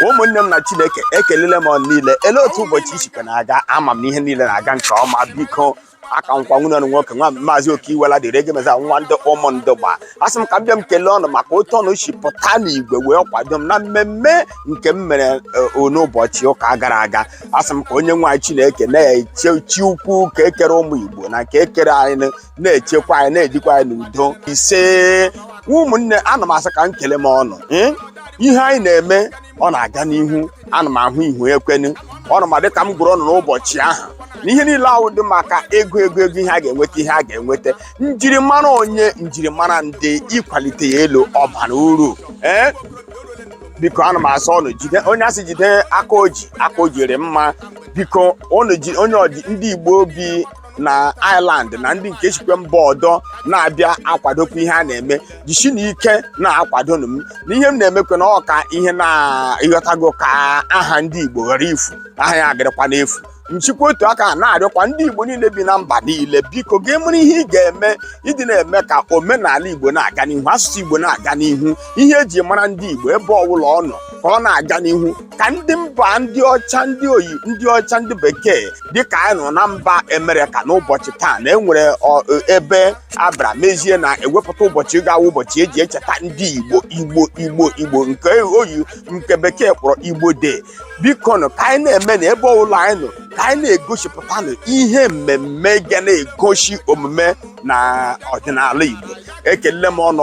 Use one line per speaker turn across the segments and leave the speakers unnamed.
ụmụnne m na chineke ekelele m ọnụ niile ele otu ụbọchị sikwe na-aga ama m na ihe niile na-aga nke ọma biko aka m wụkwa nwanne ọnụ nwoke nwa maazị Okey Iwuala dịrị ege meza nwa ndị Ụmụndugba asị m ka m bịa m kelee ọnụ maka otu ọnụ si pụta n'igwe wee kwado m na mmemme nke m mere e, n'ụbọchị ụka gara aga asị m ka onye nwe anyị Chineke nna chi ukwu nke kere ụmụ Igbo na nke kere anyị na-echekwa anyị na-ejikwa anyị n'udo ise ụmụnne ana m asị ka m kelee m ọnụ ee, ihe anyị na-eme ọ na-aga n'ihu ana m ahụ ihu ekwenu ọnụ ma dịka m gwara ọnụ n'ụbọchị ahụ na ihe niile ahụ dị maka ego ego ego ihe a ga-enweta ihe a ga-enweta njirimara onye njirimara ndị ịkwalite ya elu ọ bara uru ee biko ana m asị ọnụ jide onye asị jide aka o ji aka o ji rị mma biko ọnụ ji onye ọdị ndị Igbo bi na Ireland na ndị nke sikwe mba ọdọ na-abịa akwadokwa ihe a na-eme jisinụ ike na-akwadonu m na ihe m na-emekwa na ọka ihe na-ịghọtago ka aha ndị Igbo ghara ifu aha ya adịrịkwa n'efu m sikwa otu aka na-arịọkwa ndị Igbo niile bi na mba niile biko gaa mere ihe ị ga-eme ịdị na-eme ka omenala Igbo na-aga n'ihu asụsụ Igbo na-aga n'ihu ihe eji mara ndị Igbo ebe ọbụla ọ nọ ka ọ na-aga n'ihu ka ndị mba ndị ọcha ndị oyi ndị ọcha ndị bekee dịka anyị nọ na mba Amerịka n'ụbọchị taa na enwere ọ- ebe abịara mezie na ewepụta ụbọchị ga-awụ ụbọchị eji echeta ndị Igbo Igbo Igbo Igbo nke oyi nke bekee kpọrọ Igbo Day biko nụ ka anyị na-eme na ebe ọbụla anyị nọ ka anyị na-egosipụtanụ ihe mmemme ga na-egosi omume na ọdịnala Igbo ekele m ọnụ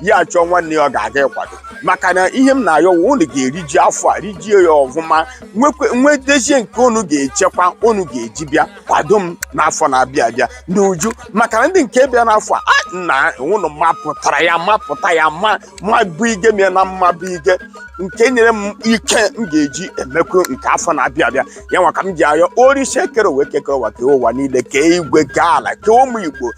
ya achọọ nwanne ya ọ ga-aga ịkwado maka na ihe m na-ayọ wụ unu ga-eriji afọ a rijie ya ọfụma nwekwe- nwetezie nke unu ga-echekwa unu ga-eji bịa kwado m n'afọ na-abịa abịa n'uju maka na ndị nke bịa n'afọ a a na unu mapụtara ya mapụta ya ma ma bụ ihe m ya na mma bụ ihe nke nyere m ike m ga-eji emekwu nke afọ na-abịa abịa ya nwa ka m ji ayọ Orisa kere ụwa nke kere ụwa kee ụwa niile kee igwe kee ala kee ụmụ Igbo